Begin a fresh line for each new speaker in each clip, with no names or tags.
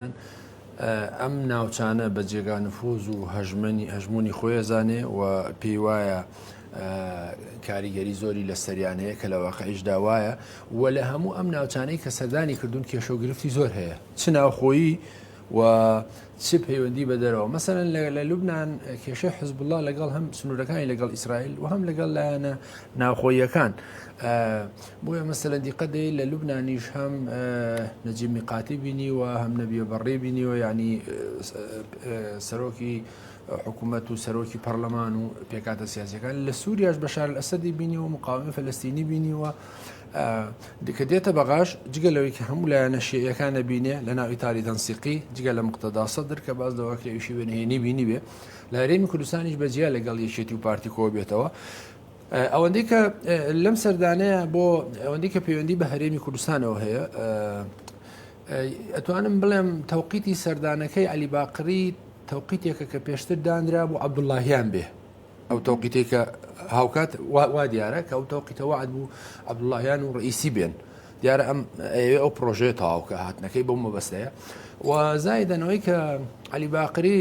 ئەم ناوچانە بە جێگا نفوز و هەژمەنی هەژمونی خۆی ئەزانێ و پێی وایە کاریگەری زۆری لە سەریان هەیە کە لە واقعیش داوایە و لە هەموو ئەم ناوچانەی کە سەردانی کردوون کێشە و گرفتی زۆر هەیە چ ناوخۆیی و چ پەیوەندی بە دەرەوە مەسەرەن لە لوبناان کێشەی حزبله لەگەڵ هەم سنوورەکانی لەگەڵ ئیسرائیل و هەم لەگەڵ لایەنە ناوخۆیەکان بۆیە مەسەلەن دیقەت دەی لە لوبنانیش هەم نەجیب میقاتی بینیوە هەم نەبیە بەڕێ بینیوە ینی سەرۆکی حکوومەت و سەرۆکی پەرلەمان و پێکاتە سیاسەکان لە سووریاش بەشار ئەسەدی بینی و مقاومی فلستینی بینیوە دیکە دێتە بەغاش جگە لەوەی کە هەموو لایەنە شێعەکان نەبینێ لە ناوی تاری تەنسیقی جگە لە مقتەداسە درکە باز لەوە کە ئەوشی وێنهێنی بینی بێ لە هەرێمی کوردستانیش بەجیا لەگەڵ یەکێتی و پارتیکۆ بێتەوە ئەوەندەی کە لەم سەردانەیە بۆ ئەوەندی کە پەیوەندی بە هەرێمی کوردستانەوە هەیە ئەتوانم بڵێم تەوقیتی سەردانەکەی علی باقری تەوقیتێکە کە پێشتر دانرا بۆ عبدوڵاهیان بێ ئەو تەوقیتی کە هاوکات وا دیارە کە ئەو تەوقیتەوە عاد بوو عبدوڵاهیان و ڕئیسی بێن دیارە ئەم ئەوێ ئەو پرۆژەیە تەواوکە هاتنەکەی بۆ مەبەستەیە و زایدەنەوەی کە علی باقری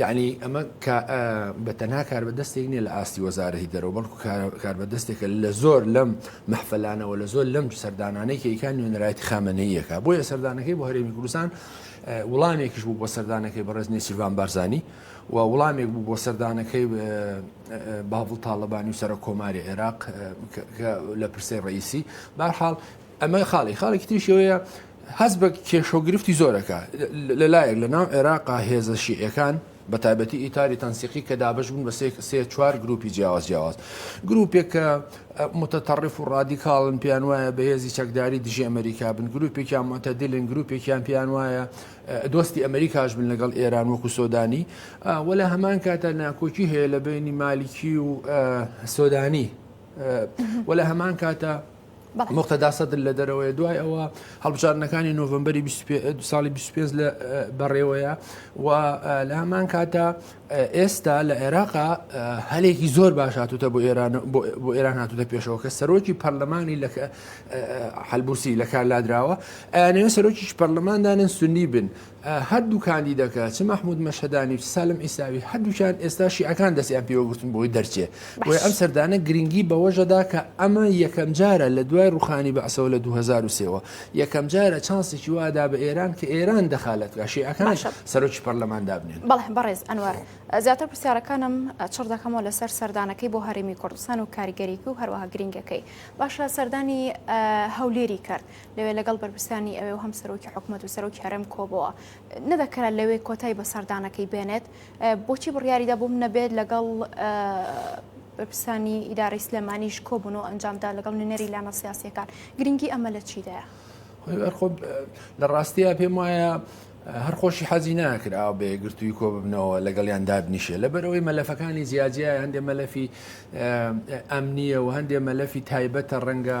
یەعنی ئەمە کا بە تەنها کاربەدەستێک نیە لە ئاستی وەزارەتی دەرەوە بەڵکو کاربەدەستێکە لە زۆر لەم مەحفلانەوە لە زۆر لەم سەردانانەی کەیکان نوێنەرایەتی خامەنەیەکە بۆیە سەردانەکەی بۆ هەرێمی کوردستان وڵامێکیش بوو بۆ سەردانەکەی بەڕێز نێچیرڤان بارزانانی و وڵامێک بوو بۆ سەردانەکەی باڤڵ تاالبانی و سەرە کۆماری عێراق لە پرسەی ڕئیسی بارحاڵ ئەمە خاڵی خاڵێکی تریشی ئەوەیە هەست بە کێشە و گرفتی زۆرەکە لەلایەک لە ناو عێراقا هێزە شیعەکان بە تایبەتی ئیتاری تەنسیقی کە دابش بوون بە سێ چوار گروپی جیاواز جیاواز گروپێک کە متتەڕف و ڕادیکاڵن پێیان وایە بەهێزی چەکداری دژی ئەمریکا بن گروپێکیان متەدلن گروپێکیان پێیان وایە دۆستی ئەمریکاش بن لەگەڵ ئێران وەکو سۆدانی وە لە هەمان کاتە ناکۆکی هەیە لە بینی مالیکی و سۆدانی وە لە هەمان کاتە موقتەدا سەدر لە دەرەوەی دوای ئەوە هەڵبژاردنەکانی نۆڤمبەری ساڵی 25 لە بەڕێوەیە و لە هەمان کاتە ئێستا لە عێراقا هەلێکی زۆر باش هاتوتە بۆ ئێران بۆ ئێران هاتوتە پێشەوە کە سەرۆکی پەرلەمانی لە حلبوسی لە کار لادراوە ئەیانەوە سەرۆکیش پەرلەماندانن سنی بن هەردوو کاندیدەکە چ مەحمود مەشهەدانی و چ سالم عیساوی هەردووکیان ئێستا شیعەکان دەستیان پێوەگرتون بۆی دەرچێ بۆیە ئەم سەردانە گرنگی بەوەژەدا کە ئەمە یەکەم جارە لە دوای ڕوخانی بەعسەوە لە 2023 وە یەکەم جارە چانسێکی وادا بە ئێران کە ئێران دەخالەت بکا شیعەکان سەرۆکی پەرلەمان دابنێن بەڵێ بەڕێز ئەنوەر
زیاتر پرسیارەکانم چڕ دەکەمەوە لەسەر سەردانەکەی بۆ هەرێمی کوردستان و کاریگەریکی و هەروەها گرنگەکەی باشە سەردانی هەولێری کرد لەوێ لەگەڵ بەرپرسانی ئەوێ و هەم سەرۆکی حکوومەت و سەرۆکی هەرم کۆبەوە نەدەکرا لەوێ کۆتای بە سەردانەکەی بێنێت بۆچی بڕیاریدا بووم نەبێت لەگەڵ بەرپرسانی ئیدارەی سلێمانیش کۆبوون و ئەنجامدا لەگەڵ نوێنەری لامە سیاسەکان گرنگی ئەمە لە چیدایە
لە ڕاستەیە پێم وایە هەر خۆشی حەزی ناکراوە بە یەگرتووی کۆ ببنەوە لەگەڵیان دابنیشێ لەبەرەوەی مەلەفەکانی جیاجیای هەندێ مەلەفی ئەمنیە و هەندێ مەلەفی تایبەتە ڕەنگە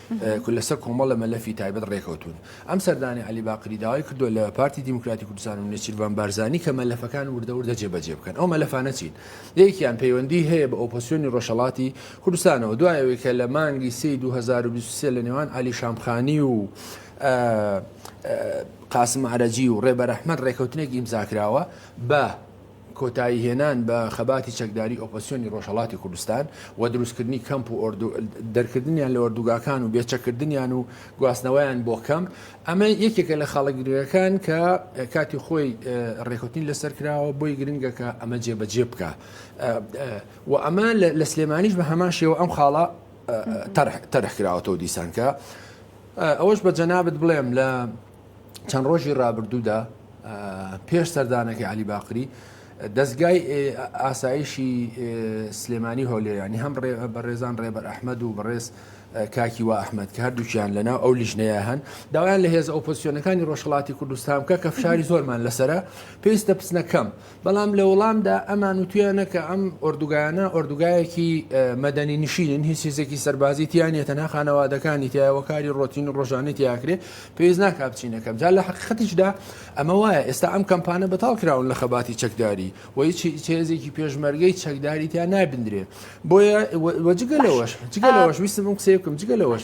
کورد لەسەر کۆمەڵە مەلەفی تایبەت ڕێکەوتوون. ئەم سەردانەی عەلی باقری داوای کردووە لە پارتی دیموکراتی کوردستان و نێچیرڤان بارزانی کە مەلەفەکان وردە وردە جێبەجێ بکەن. ئەو مەلەفانە چین؟ یەکێکیان پەیوەندیی هەیە بە ئۆپۆزسیۆنی ڕۆژهەڵاتی کوردستانەوە. دوای ئەوەی کە لە مانگی سێی دوو هەزار و بیست و سێ لە نێوان عەلی شامخانی و قاسم عەرەجی و ڕێبەر ئەحمەد ڕێکەوتنێک ئیمزا کراوە بە کۆتایی هێنان بە خەباتی چەکداری ئۆپۆسیۆنی ڕۆژهەڵاتی کوردستان و دروستکردنی کەمپ و دەرکردنیان لە ئۆردوگاکان و بێچەکردنیان و گواستنەوەیان بۆ کەمپ ئەمە یەکێکە لە خاڵە گرنگەکان کە کاتی خۆی ڕێکوتنی لەسەر کراوە بۆی گرنگە کە ئەمە جێبەجێ بکە و ئەمە لە سلێمانیش بە هەمان شێوە ئەم خاڵە تەرح کراوەەوە دیسانکە ئەوەش بە جەنابەت بڵێم لە چەند ڕۆژی ڕابردوودا پێش سەردانەکە علی باقری دەستگای ئاسایشی سلێمانی هۆلێرانی هەم بەڕێزان ڕێبەر ئەحمد و بەڕێز کاکی و ئەحمد کە هەردووچیان لەناو ئەو لیژنەیە هەن داوایان لە هێز ئۆپۆسیۆنەکانی ڕۆژهڵاتی کوردستان بکە کە فشاری زۆرمان لەسرە پێویستە بچنەکەم بەڵام لە وڵامدا ئەمان وتویانە کە ئەم ئۆردوگایانە ئۆردوگایەکی مەدەنی نشینن هیچ هیزێکی سەربازی تیا نیە تەنها خانەوادەکانی تایەوە کاری ڕۆتین و ڕۆژانەی تیاکرێ پێویست ناکە بچینەکەم جا لە حقیقەتیشدا ئەمە وایە ئێستا ئەم کەمپانە بەتاڵ کراون لە خەباتی چەکداری و هیچ هێزێکی پێشمەرگەی چەکداری تیا نابدرێ بۆیە وەجگە لەوەش جگە لەوەش ویستم ئەم قسەیە بکەم جگە لەوەش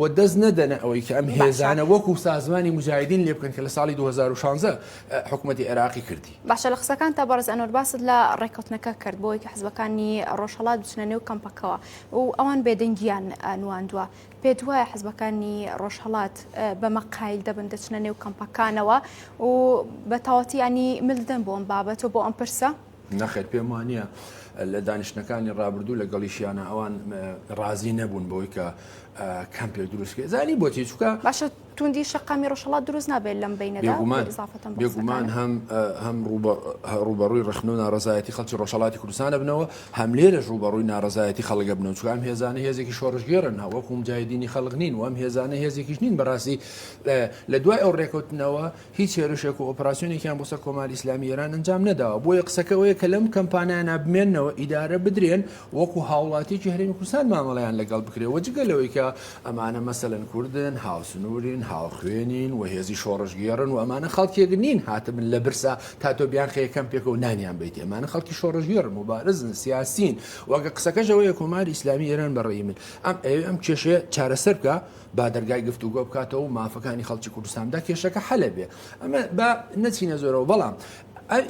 و دەست نەدەنە ئەوەی کە ئەم هێزانە وەکو سازمانی موجاهیدین لێ بکەن کە لە ساڵی دوو هەزار و شانزە حکومەتی عێراقی کردی. باشە لە قسەکانتا بەڕێز ئەنوەر
باست لە ڕێککەوتنەکە کرد بۆ ئەوەی کە حزبەکانی ڕۆژهەڵات بچنە نێو کەمپەکەوە و ئەوان بێدەنگییان نواندووە، پێت وایە حزبەکانی ڕۆژهەڵات بەمە قایل دەبن دەچنە نێو کەمپەکانەوە و بە تەواوەتی یانی مل دەدەن بۆ ئەم بابەتە و بۆ ئەم پرسە؟ نەخێر پێم وانە
لە دانیشتەکانی ڕابردوو لە گەڵیشیانە ئەوان ڕازی نەبوون بۆی کە کەمپێک دروستکرێت زانی بۆ تێچووکە باشە توندی
شقامی ڕۆژەڵات دروست نابێت لەم بینەداگومان
هەم هەم ڕوبەڕووی ڕخن و ناڕزایەتی خەڵکی ڕۆژەڵاتی کوردستانە بنەوە هەم لێرەش ڕوبەڕووی ناڕزایەتی خەڵگە بنەوە چکام هێزانە هێزێکی شۆڕژگێرن هەوەکوم جایدینی خەڵق نین وام هێزانە هێزێکیش نین بەڕاستی لە دوای ئەو ڕێکوتنەوە هیچ هێرشێک و ئۆپراسیۆنێکیان بۆ سەر کۆماری ئیسلامی ئێران ئەنجام نەداوە، بۆیە قسەکە ئەوەیە کە لەم کەمپانایانە بمێنەوە، ئیدارە بدرێن و وەکوو هاوڵاتییەکی هەرێمی کوردستان مامەڵەیان لەگەڵ بکرێ و جگە لەوەی کە ئەمانە مەسەلەن کوردن، هاوسنوورین، هاوخوێنین و هێزی شۆڕشگێڕن و ئەمانە خەڵکێک نین هاتبن لە برسا تا تۆ بیانخەیە کەمپێک و نانیان بەیت، ئەمانە خەڵکی شۆڕشگێڕن، موبارزن، سیاسین و قسەکەش ئەوەیە کۆماری ئیسلامی ئێران بە ڕەئی من ئەم ئەیەوێ ئەم کێشەیە چارەسەر بکا، با دەرگای گفتوگۆ بکاتەوە مافەکانی خەڵکی کوردستان دا کێشەکە حەلە بێ ئەمە با نەچینە زۆرەوە بەڵام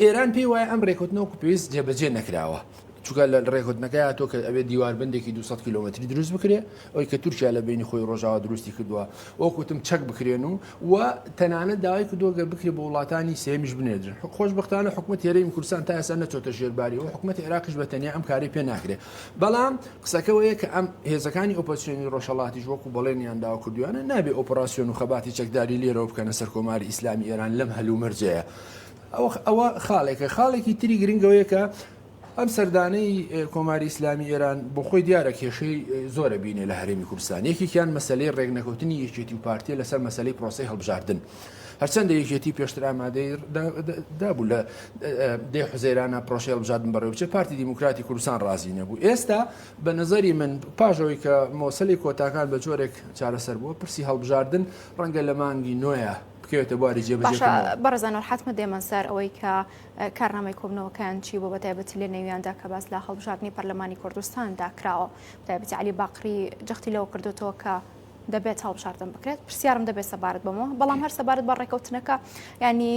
ئێران پێی وایە ئەم ڕێکوتنەوە پێویست جێبەجێ نەکراوە چونکە لە ڕێکوتنەکەی تۆ کە ئەوێ دیواربندێکی 200 کیلومتری دروست بکرێ ئەوی کە تورکیا لە بینی خۆی ڕۆژاوا دروستی کردووە وەکوتم چەک بکرێن و و تەنانە داوای کردووە گەر بکرێ بۆ وڵاتانی سێمیش بنێدرن خۆش بختانە حکوومەت هێرەی کوردستان تا ئێستا نەچۆتە ژێرباری و حکوومەت عێراقش بە تەنیا ئەم کاری پێ ناکرێت بەڵام قسەکە وەیە کە ئەم هێزەکانی ئۆپۆزسیۆنی ڕۆژهەڵاتیش وەکو بەڵێنیان داوە کردوویانە نابێ ئۆپڕاسیۆن و خەباتی چەکداری لێرەوە بکەنە سەر کۆماری ئیسلامی ئێران لەم هەلومەرجەیە ئەوە خاڵێکە خاڵێکی تری گرنگەوەیە کە ئەم سەردانەی کۆماری ئیسلامی ئێران بۆ خۆی دیارە کێشەی زۆرە بینێ لە هەرێمی کوردستان یەکێکیان مەسلەی ڕێکنەکەوتنی یەکێتی و پارتیە لەسەر مەسلەی پرۆسی هەڵبژاردن هەرچەندە یەکێتی پێشتر ئامادەی دابوو لە دێ حزێرانە پرۆشێ هەڵبژاردن بەڕێ بچێ پارتی دیموکراتی کوردستان ڕازی نەبوو ئێستا بە نظری من پاژەوەی کە مۆسلی کۆتاکان بە جۆرێک چارەسەر بووە پرسی هەڵبژاردن ڕەنگە لە مانگی نوۆیە بکەوێتە بواری جێبەجێ بەڕزان حتممە دێمە
سەر ئەوەی کە کارنامەی کۆبنەوەکان چی بۆ بەتایبەتی لە نێویاندا کە باس لە هەڵبژاردننی پەرلەمانی کوردستاندا کراوە تایبەتی علی باقری جەختی لەوە کردوتەوە کە دەبێت هەڵبژاردن بکرێت پرسیارم دەبێت سەبارەت بەمەوە بەڵام هەر سەبارەت بە ڕێکەوتنەکە ینی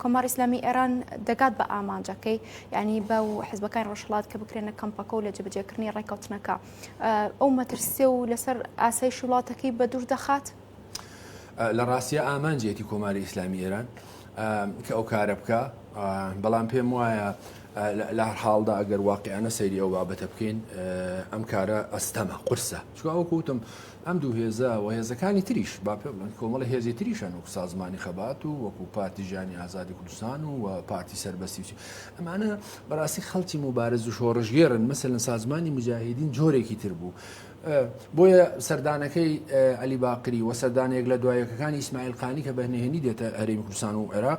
کۆمار ئسلامی ئێران دەگات بە ئامانجەکەی ینی بە و حزبەکان ڕۆژهڵات کە بکرێنە کەمپەکە و لە جبجێکردنی ڕێکەوتنەکە ئەو مەترسێ و لەسەر ئاسای شوڵاتەکەی بە دوور دەخات
لە ڕاستە ئامانجێتی کۆماری ئیسلامی ئێران کە ئەو کارە بکە بەڵام پێم وایە لە حاڵدا ئەگەر واقعیانە سەیری ئەو بابەتە بکەین ئەم کارە ئەستەمە قرسە چونکە وەکو وتم ئەم دوو هێزە و هێزەکانی تریش با پێبڵێن کۆمەڵە هێزی تریشن وەکو سازمانی خەبات و وەکو پارتی ژیانی ئازادی کوردستان و پارتی سەربەستی و ئەمانە بەڕاستی خەڵکی مبارز و شۆڕژگێرن مەسەن سازمانی مجاهدین جۆرێکی تر بوو بۆیە سەردانەکەی علی باقری و سەردانێک لە دوایەکەکانی ئیسماعیل قانی کە بەهنهێنی دێتە هەرێمی کوردستان و عێراق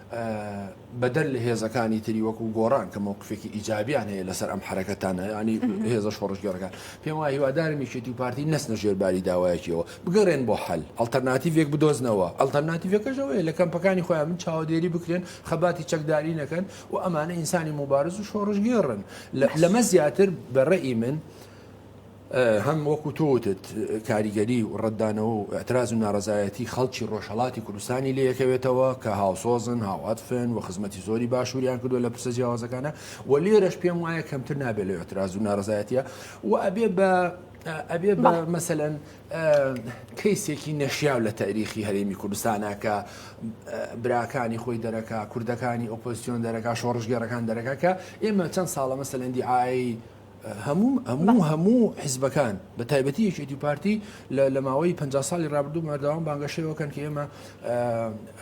بەدەر لە هێزەکانی تری وەکو گۆڕان کە مەوقفێکی ئیجابیان هەیە لەسەر ئەم حرەکەتانە ینی هێزە شۆڕشگەرەکان پێم وای هیوادارمی شێتی و پارتی نەسنە ژێرباری داوایەکیەوە بگەڕێن بۆ حل ئەلتەرناتیڤێک بدۆزنەوە ئەلتەرناتیڤەکەشەوەی لە کەمپەکانی خۆیان من چاوەدێری بکرێن خەباتی چەکداری نەکەن و ئەمانە ئینسانی مبارز و شۆڕشگێڕن لەمە زیاتر بەڕێی من هەم وەکو تۆ وتت کاریگەری و ڕەتدانەوە و ئیعتراز و ناڕەزایەتی خەڵکی ڕۆژهەڵاتی کوردستانی لێکەوێتەوە کە هاوسۆزن، هاوعەتفن و خزمەتی زۆری باشووریان کردووە لە پرسە جیاوازەکانە و لێرەش پێم وایە کەمتر نابێت لە ئیعتراز و ناڕەزایەتیە و ئەبێ بە ئەبێ بە مەسەەن کەیسێکی نەشیاو لە تاریخی هەرێمی کوردستانە کە براکانی خۆی دەرەکە کوردەکانی ئۆپۆزیسیۆن دەرەکە شۆڕژگەرەکان دەرەکە کە ئێمە چەند ساڵە مەسەەندی ئای هەموو هەموو هەموو حزبەکان بە تایبەتی یەکێتی پارتی لە ماوەی پ ساڵی رابردوو مەردەوام بانگەشەوەکەن کە ئێمە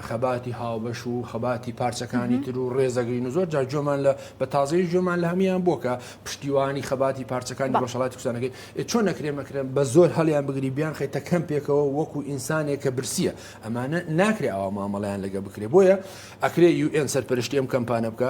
خەباتی هاوبەش و خەباتی پارچەکانی تر و ڕێزەگرین و زۆر جار جۆمان لە بە تازەی جۆمان لە هەمان بۆ کە پشتیوانی خەباتی پارچەکانی ڕۆژهڵاتی کوردستانەکەی چۆن نەکرێن مەکرێن بە زۆر هەڵیان بگری بیان خەیتە کەم پێکەوە وەکو ئینسانێک کە برسیە ئەمانە ناکرێ ئەوە مامەڵیان لەگە بکرێ بۆیە ئەکرێ یو ئێن سەرپەرشتی ئەم کەمپانە بکە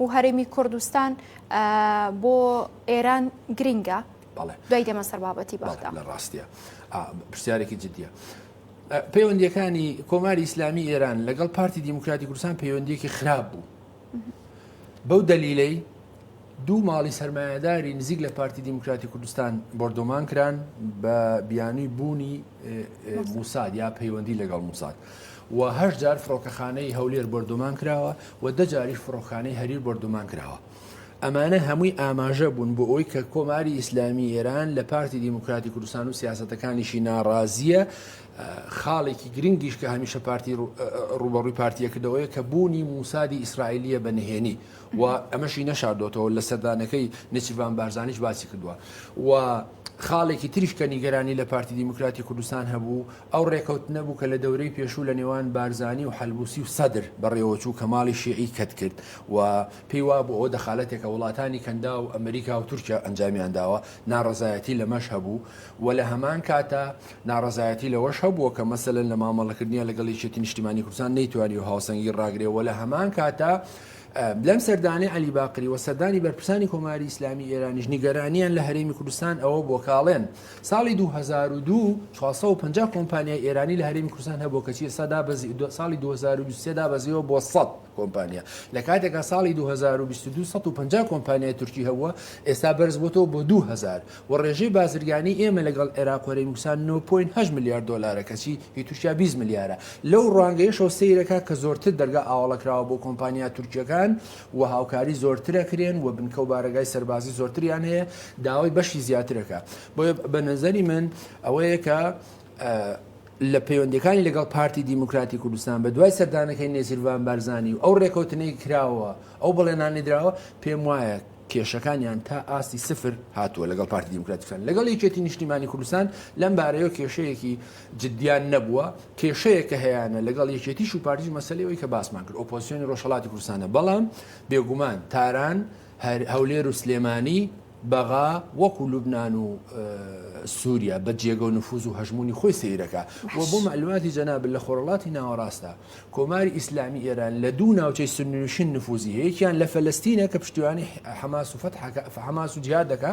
و هەرێمی کوردستان بۆ ئێران گرنگە دوای دێمە سەر بابەتی بەڵام لە ڕاستە
پرسیارێکی جددیە پەیوەندیەکانی کۆماری ئیسلامی ئێران لەگەڵ پارتی دیموکراتی کوردستان پەیوەندیەکی خراپ بوو بەو دەلیلەی دوو ماڵی سرمایهداری نزیک لە پارتی دیموکراتی کوردستان بردۆمان کران بە بیانوی بوونی موساد یا پەیوەندی لەگەڵ موساد و هەشت جار فڕۆکەخانەی هەولێر بۆردومان کراوە و دە جاریش فڕۆکخانەی هەریر بۆردومان کراوە. ئەمانە هەمووی ئاماژە بوون بۆ ئەوی کە کۆماری ئیسلامی ئێران لە پارتی دیموکراتی کوردستان و سیاسەتەکانیشی ناڕازیە خاڵێکی گرنگیش کە هەمیشە پارتی ڕوبەڕووی پارتیە کردەوەیە کە بوونی موسادی ئیسرائیلیە بە نهێنی و ئەمەشی نەشاردۆتەوە لە سەردانەکەی نچیڤان بارزانیش باسی کردووە و خاڵێکی تریش کە نیگەرانی لە پارتی دیموکراتی کوردستان هەبوو ئەو ڕێکەوتنە بوو کە لە دەورەی پێشوو لە نێوان بارزانی و حەلبوسی و سەدر بەڕێوەچوو کە ماڵی شیعی کەت کرد و پێی وابوو ئەوە دەخالەتێکە وڵاتانی کەنداو ئەمریکا و تورکیا ئەنجامیان داوە ناڕەزایەتی لەمەش هەبوو و لە هەمان کاتا ناڕەزایەتی لەوەش هەبووە کە مەسەلەن لە مامەڵەکردنیان لەگەڵ یەکێتی نیشتیمانی کوردستان نەیتوانیوە هاوسەنگی ڕاگرێ و لە هەمان کاتا لەم سەردانەی عەلی باقری و سەردانی بەرپرسانی کۆماری ئیسلامی ئێرانیش نیگەرانیان لە هەرێمی کوردستان ئەوە بووە کاڵێن ساڵی دوو هەزار و دوو چوار سەد و پەنجا کۆمپانیای ئێرانی لە هەرێمی کوردستان هەبوو کەچی ئێستا دابەزی ساڵی دوو هەزار و بیست و سێ دابەزیوە بۆ سەد کۆمپانیا لە کاتێکا ساڵی دوو هەزار و بیست و دوو سەد و پەنجا کۆمپانیای تورکی هەبووە ئێستا بەرزبووەتەوە بۆ دوو هەزار و ڕێژەی بازرگانی ئێمە لەگەڵ عێراق و هەرێمی کوردستان نۆ پۆینت هەشت ملیار دۆلارە کەچی هی تورکیا بیست ملیارە لەو ڕوانگەیەشەوە سەیرەکە کە زۆرتر دەرگا ئاوەڵەکراوە بۆ کۆمپانیا تورکییەکان و هاوکاری زۆرتر ئەکرێن و بنکە و بارەگای سەربازی زۆرتریان هەیە داوای بەشی زیاتر ئەکا بۆیە بە نەزەری من ئەوەیە کە لە پەیوەندەکانی لەگەڵ پارتی دیموکراتی کوردستان بە دوای سەردانەکەی نێزیرڤان بارزانانی و ئەو ڕێکەوتنەی کراوە ئەو بەڵێنانی دراوە پێم وایە کێشەکانیان تا ئاستی سفر هاتووە لەگەڵ پارتی دیموکراتیکان لەگەڵ یەکێتی نیشتیمانی کوردستان لەم بارەیەوە کێشەیەکی جدیان نەبووە، کێشەیە کە هەیانە لەگەڵ یەکێتیش و پارتیش مەسەلەی ئەوەی کە باسمان کرد ئۆپۆزسیۆنی ڕۆژهەڵاتی کوردستانە بەڵام بێگومان تاران، هەولێر و سلێمانی بەغا وەکو لوبنان و سووریا بە جێگە و نفوز و هەژمونی خۆی سیرەکە و بۆ معلوماتی جەناب لە خۆرڵاتی ناوەڕاستە کۆماری ئیسلامی ئێران لە دوو ناوچەی سنووشن نفوزی هەیەکیان لە فلستینە کە پشتیوانی حماس و فتحەکە حماس و جیادەکە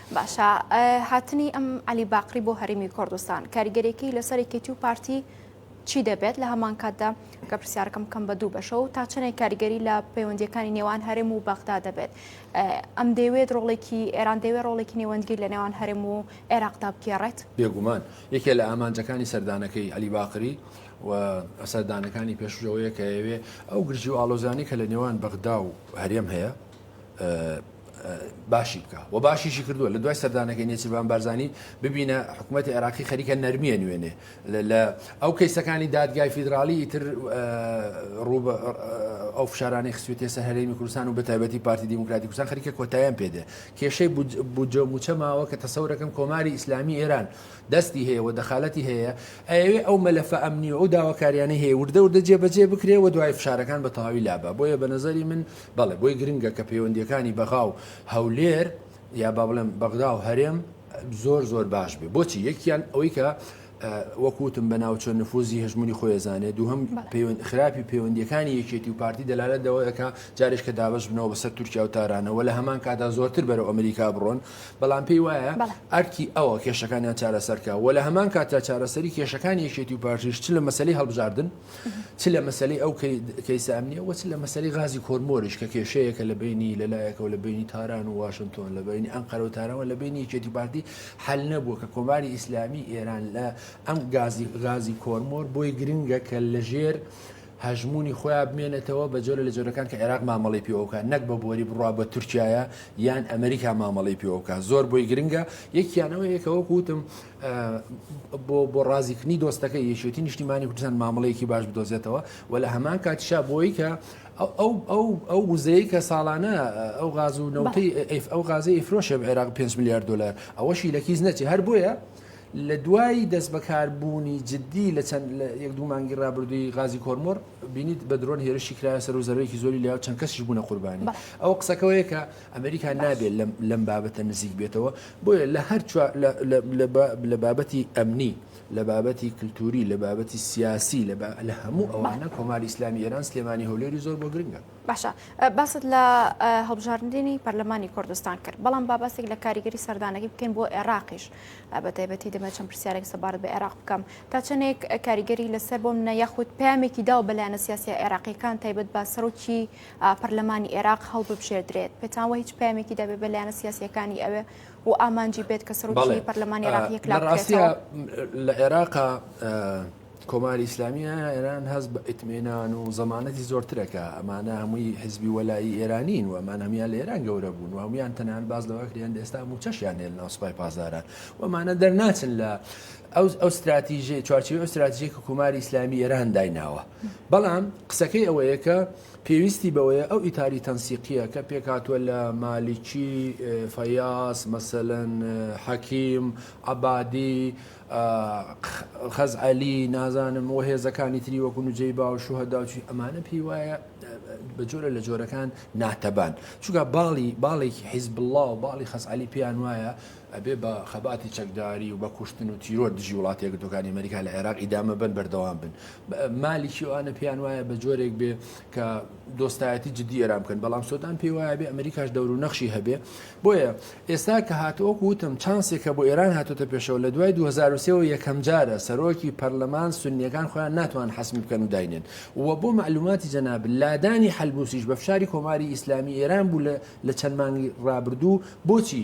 باشە هاتنی ئەم عەلی باقری بۆ هەرمی کوردستان کاریگەرێکی لەسەر کێتی و پارتی چی دەبێت لە هەمان کاتدا کە پرسیارکەم کەم بە دوو بەشە و تا چنێک کاریگەری لە پەیوەندیەکانی نێوان هەرم و بەغدا دەبێت ئەم دەوێت ڕۆڵێکی ئێران دەوێت ڕۆڵێکی نێوەندگیر لە نێوان هەرم و عێراقدا بگێڕێت بێگومان یەکێ
لە ئامانجەکانی سەردانەکەی علی باقری و ئەسەردانەکانی پێشژەوەیە کە ئەوێ ئەو گرژی و ئالۆزانی کە لە نێوان بەغدا و هەرێم هەیە باشی بکە و باشیشی کردووە لە دوای سەردانەکەی نێچیربان بارزانانی ببینە حکوومەتتی عێراقی خەریکە نەرمیە نوێنێ لە ئەو کەیسەکانی دادگای فیدراالی ئیتر ڕوو ئەو فشارانی خسوێتە سەر هەرێمی کوردستان و بە تایبەتی پارتی دیموکراتی کوردستان خەریکە کۆتاییان پێدێ کێشەی بودجە موچە ماوە کە تەسەورەکەم کۆماری ئیسلامی ئێران دەستی هەیە و دەخالەتی هەیە ئەوێ ئەو مەلەفە ئەمنی و داواکاریانە هەیە وردە وردە جێبەجێ بکرێ و دوای فشارەکان بە تەواوی لابە بۆیە بە نظری من بەڵێ بۆی گرنگە کە پەیوەندییەکانی بەغا و هەولێر یا با بڵێم بەغدا و هەرێم زۆر زۆر باش بێ بۆچی یەکیان ئەوەی کە وەکوتم بە ناوچە نفوزی هەژمونی خۆێزانێ دووهم خراپی پەیوەندیەکانی یەکێتی و پارتی دەلالە دەوەکە جارش کە دابش بنەوە بەسەر تورکیا و تارانەوە لە هەمان کادا زۆرتر بەرەو ئەمریکا بڕۆن بەڵام پێی وایە ئەرکی ئەوە کێشەکانیان چارەسەرکە و لە هەمان کاتا چارەسەری کێشەکانی یەکێتی و پارتیش چ لە مەسلی هەڵبژاردن چ لە مەسلەی ئەو کەیسە ئەمنیە وە چ لە مەسەری غازی کۆرمۆریش کە کێشەیەکە لە بینی لەلایەکەوە لە بینی تاران و واشنتۆن لە بینی ئەم قەرەو تارەوە لە بینی یەکێتی پارتی حل نەبووە کە کۆماری ئیسلامی ئێران لە ئەم گازی غازی کۆرمۆر بۆی گرنگە کە لەژێر هەژمونی خۆیان بمێنێتەوە بە جۆرە لە جۆرەکان کە عێراق مامەڵی پێوەکە نەک بە بۆری بڕوا بە تورکایە یان ئەمریکا مامەڵی پێوەکە زۆر بۆی گرنگە یەکیانەوە یەکەوە کوتم بۆ بۆ ڕازیکردنی دۆستەکە یەکێتی نیشتیمانی کوردستان مامەڵەیەکی باش بدۆزێتەوە و لە هەمان کاتیشا بۆی کە ئەو ئەو ئەو وزەیە کە ساڵانە ئەو غاز و نەوتی ئەو غازی ئیفرۆشە عێراق 5 میلیارد دلار ئەوەشی لە کیس نەچی هەر بۆیە لە دوای دەست بەکاربوونی جددی لە چەند لە یەک دوو مانگی ڕابردووی غازی کۆرمۆر بینیت بە درۆن هێرشی کرایە سەر و زەرەوەیەکی زۆری لە چەند کەسیش بوونە قوربانی ئەو قسەکەوەیە کە ئەمریکا نابێت لەم بابەتە نزیک بێتەوە، بۆیە لە هەر چوار لە بابەتی ئەمنی، لە بابەتی کلتوری، لە بابەتی سیاسی، لە هەموو ئەوانە کۆماری ئیسلامی ئێران سلێمانی هەولێری زۆر بۆ گرنگە. باشە باست
لە هەڵبژاردنی پەرلەمانی کوردستان کرد، بەڵام با باستێک لە کاریگەری سەردانەکەی بکەین بۆ عێراقیش بە تایبەتی دەمە چەند پرسیارێک سەبارەت بە عێراق بکەم تا چەندێک کاریگەری لەسەر بۆم نە یاخود پامێکی داو بەلایەنە سیاسی عێراقیەکان تایبەت بە سەرۆکی پەرلەمانی ئێراق هەڵببژێردرێت پێتان وە هیچ پامێکی دەبێت بە لایەنە سیاسەکانی ئەوێ و ئامانجی بێت کە سەرۆکی پەرلەمانی عراقیەک لە ڕاستە لە
عێراقا کۆماری ئیسلامیە ئێران هەز بە ئیتمێنان و زمانەتی زۆرترەکە ئەمانە هەمووی حزبی وەلایی ئێرانین و ئەمان هەمیان لە ئێران گەورە بوون و هەمویان تەنان باز لەوەکریان ئێستا موچەشیان نێل ناسپای پازاران وەمانە دەرناچن لە ئەو ستراتیژەی چوارچێوەی ئەو ستراتیژەی کە کۆماری ئیسلامی ئێران دایناوە. بەڵام قسەکەی ئەوەیە کە پێویستی بەوەیە ئەو ئیتاری تەنسیقیە کە پێکهاتووە لە مالیکی، فەیاس، مەسەلەن حەکیم، عەبادی، خەزعەلی، نازانم و هێزەکانی تری وەکو نوجەیبا و شوهەدا و چی ئەمانە پێی وایە بە جۆرە لە جۆرەکان ناتەبان چونکە باڵی باڵێکی حیزب الله و باڵی خەزعەلی پێیان وایە ئەبێ بە خەباتی چەکداری و بە کوشتن و تیرۆر دژی وڵاتە یەکگرتووەکانی ئەمەریکا لە عێراق ئیدامە بەن بەردەوام بن. مالیکی و ئانە پێیان وایە بە جۆرێک بێ کە دۆستایەتی جدی ئێران بکەن بەڵام سۆدان پێی وایە بێ ئەمریکاش دەور و نەخشی هەبێ بۆیە ئێستا کە هاتووەک وتم چانسێکە بۆ ئێران هاتوتە پێشەوە لە دوای 2023 یەکەم جارە سەرۆکی پەرلەمان سنیەکان خۆیان ناتوان حەسمی بکەن و داینێن و بۆ معلوماتی جەناب لادانی حلبوسیش بە فشاری کۆماری ئیسلامی ئێران بوو لە چەند مانگی ڕابردوو بۆچی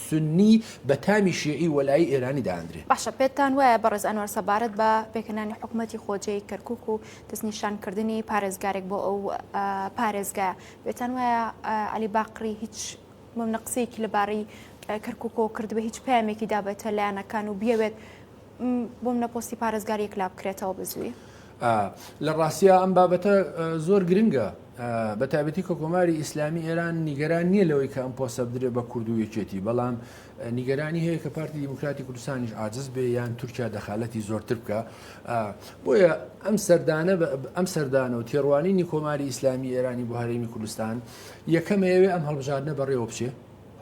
سوننی بە تامی شیعی وەلایی ئێرانی دادەنرێ. باشە پێتان وایە
بەڕێز ئەنوەر سەبارەت بە پێکهێنانی حکومەتی خۆجێی کەرکوک و دەستنیشان کردنی پارێزگارێک بۆ ئەو پارێزگایە پێتان وایە عەلی باقری هیچ مەونە قسەیەکی لەبارەی کەرکوکەوە کردبێ هیچ پامێکی دابێتە لایەنەکان و بیەوێت بۆ منە پۆستی پارێزگار یەکلا بکرێتەوە بزووی لە
ڕاستە ئەم بابەتە زۆر گرنگە بە تابەتی کە کۆماری ئیسلامی ئێران نیگەران نییە لەوەی کە ئەم پۆسە بدرێت بە کورد و یەکێتی بەڵام نیگەرانی هەیە کە پارتی دیموکراتی کوردستانیش عاجز بێ یان تورکیا دەخالەتی زۆرتر بکە بۆیە ئەم سەردانە ئەم سەردانە و تێڕوانینی کۆماری ئیسلامی ئێرانی بۆ هەرێمی کوردستان یەکەمەیەوێ ئەم هەڵبژاردنە بەڕێوە بچێ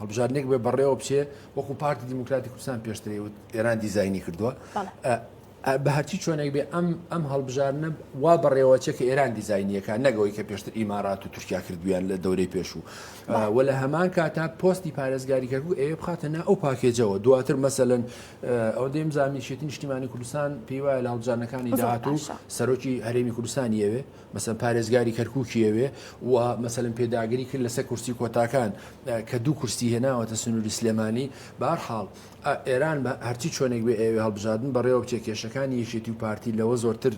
هەڵبژاردنێک بێ بەڕێوە بچێ وەکو پارتی دیموکراتی کوردستان پێشتری وت ئێران دیزایانی کردووە بە هەرچی چۆنێک بێ ئەم ئەم هەڵبژارنە وا بەڕێوەچێ کە ئێران دیزایینیەکە نەگەوەی کە پێشتر ئیمارات و تورکیا کردویان لە دەورەی پێشوو و لە هەمان کاتا پۆستی پارێزگاری کەکو ئێ بخاتە نا ئەو پاکێجەوە دواتر مەسەن ئەو دێم زانیشێتی نیشتیمانی کوردستان پێیوایە لە هەڵبژانەکانی داهاتوو سەرۆکی هەرێمی کوردستان یەوێ مەسەلەن پارێزگاری کەرکوکی ئەوێ و مەسەلەن پێداگری کرد لەسەر کورسی کۆتاکان کە دوو کورسی هێناوەتە سنووری سلێمانی بارحاڵ ئێران بە هەرچی چۆنێک بێ ئەوێ هەڵبژاردن بەڕێوە بچێ کێشەکانی یەکێتی و پارتی لەوە زۆرتر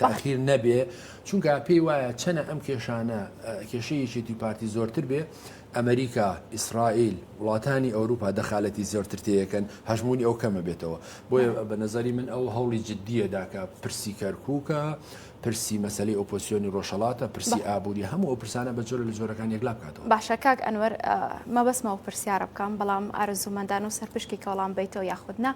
تاخیر نەبێ چونکە پێی وایە چەنە ئەم کێشانە کێشەیەکێتی و پارتی زۆرتر بێ ئەمریکا، ئیسرائیل، وڵاتانی ئەوروپا دەخالەتی زۆرتر تێیەکەن هەژموونی ئەو کەم ئەبێتەوە. بۆیە بە نەزەری من ئەو هەوڵی جدییە دا کە پرسی کەرکووکە، پرسی مەسەلەی ئۆپۆسیۆنی ڕۆژهەڵاتە، پرسی ئابووریە، هەموو ئەو پرسانە بە جۆرە لە جۆرەکان یەکلا بکاتەوە. باشە کاک ئەنوەر
مەبەستمە ئەو پرسیارە بکەم، بەڵام ئارەزوومەندانە و سەرپشکی کە وەڵام بەیتەوە یاخود نا.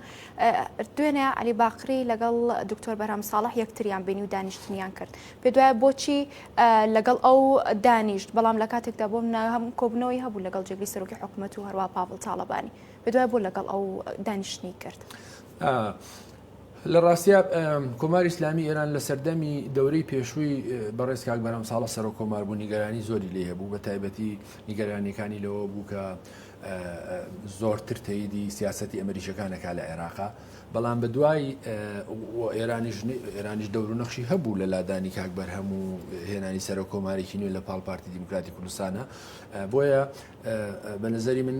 دوێنێ عەلی باقری لەگەڵ دکتۆر بەرهەم ساڵح یەکتریان بینی و دانیشتنیان کرد. پێت وایە بۆچی لەگەڵ ئەو دانیشت بەڵام لە کاتێکدا بۆم ناهەم کۆبنەوەی هەبوو لەگەڵ جێگری سەرۆکی حکوومەت و هەروە پاڤڵ تاالبانی بدوای بۆ لەگەڵ ئەو دانیشتنی کرد.
لە ڕاستە کۆماری ئسلامی ئێران لە سەردەمی دەورەی پێشووی بەڕێز کاک بەرەم ساڵە سەر کۆمار بوو نیگەرانی زۆری لێ هەبوو بە تایبەتی نیگەرانەکانی لەوە بوو کە زۆرتر تەیدی سیاستی ئەمریکەکانەکە لە عێراقا بەڵام بە دوای ئێرانیش ئێرانیش دەورو نەخشی هەبوو لە لادانی کاک بەرهەم و هێنانی سەر و کۆمارێکی نوێ لە پاڵ پارتی دیموکراتی کوردستانە بۆیە بە نظری من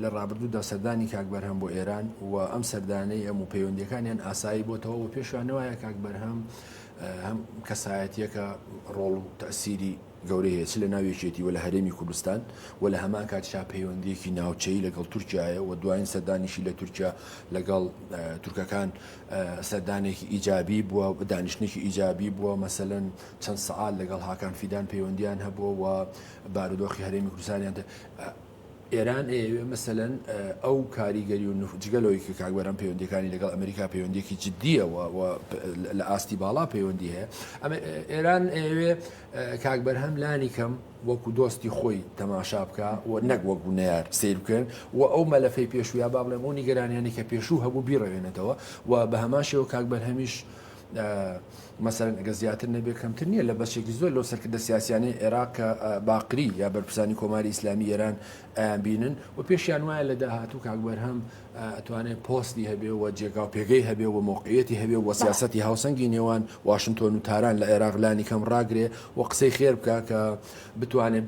لە ڕابردوودا سەردانی کاک بەرهەم بۆ ئێران و ئەم سەردانەی ئەم و پەیوەندەکانیان ئاسایی بۆتەوە و پێشوانەوەە کاک بەرهەم هەم کەسایەتەکە ڕۆڵ و تەسیری گەورەی هەیە چ لە ناو یەکێتی و لە هەرێمی کوردستان و لە هەمان کاتیشا پەیوەندییەکی ناوچەیی لەگەڵ تورکیا هەیە و دوایین سەردانیشی لە تورکیا لەگەڵ تورکەکان سەردانێکی ئیجابی بووە دانیشتنێکی ئیجابی بووە مەسەلەن چەند سەعات لەگەڵ هاکان فیدان پەیوەندیان هەبووە و بارودۆخی هەرێمی کوردستانیان ئێران ئەیەوێ مەسەلەن ئەو کاریگەری و نفوذ جگە لەوەی کە کاک بەرهەم پەیوەندییەکانی لەگەڵ ئەمریکا پەیوەندییەکی جددییە و و لە ئاستی باڵا پەیوەندی هەیە ئەمە ئێران ئەیەوێ کاک بەرهەم لانی کەم وەکو دۆستی خۆی تەماشا بکە و نەک وەکو نەیار سیر بکەن و ئەو مەلەفەی پێشوویا با بڵێم ئەو نیگەرانیانی کە پێشوو هەبوو بیڕەوێنێتەوە و بە هەمان شێوە کاک بەرهەمیش مەسەلەن ئەگەر زیاتر نەبێت کەمتر نییە لە بەشێکی زۆر لەو سەرکردە سیاسیانەی عێراق کە باقری یا بەرپرسانی کۆماری ئیسلامی ئێران ئەیانبینن و پێشیان وایە لە داهاتوو کاک بەرهەم ئەتوانێت پۆستی هەبێ و جێگا و پێگەی هەبێ و مۆقعەتی هەبێ و سیاستی هاوسەنگی نێوان واشنتۆن و تاران لە عێراق لانی کەم ڕاگرێ و قسەی خێر بکە کە بتوانێت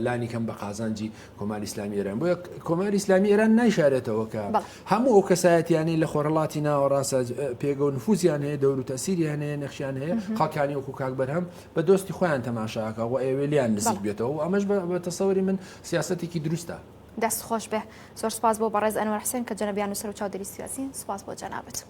لانی کەم بە قازانجی کۆماری ئیسلامی ئێران بۆیە کۆماری ئیسلامی ئێران نایشارێتەوە کە بەڵێ. هەموو ئەو کەسایەتیانەی لە خۆرهڵاتی ناوەڕاستە ج- پێگە و نفوزیان هەیە دەور و تەسیری هەنەیە نەخشیان هەیە خەڵکانی وەکو کاک بەرهەم بە دۆستی خۆیان تەماشاکە و ئەوێ لیان نزیک بەڵێ. بێتەوە و ئەمەش بە- بە تەسەوری من سیاسەتێکی دروستە دەست خۆش بێ
زۆر سوپاس بۆ بەڕێز ئەنوەر حسێن کە جەنەبیان نووسەر و چاودێری سیاسین سوپاس بۆ جەنابت.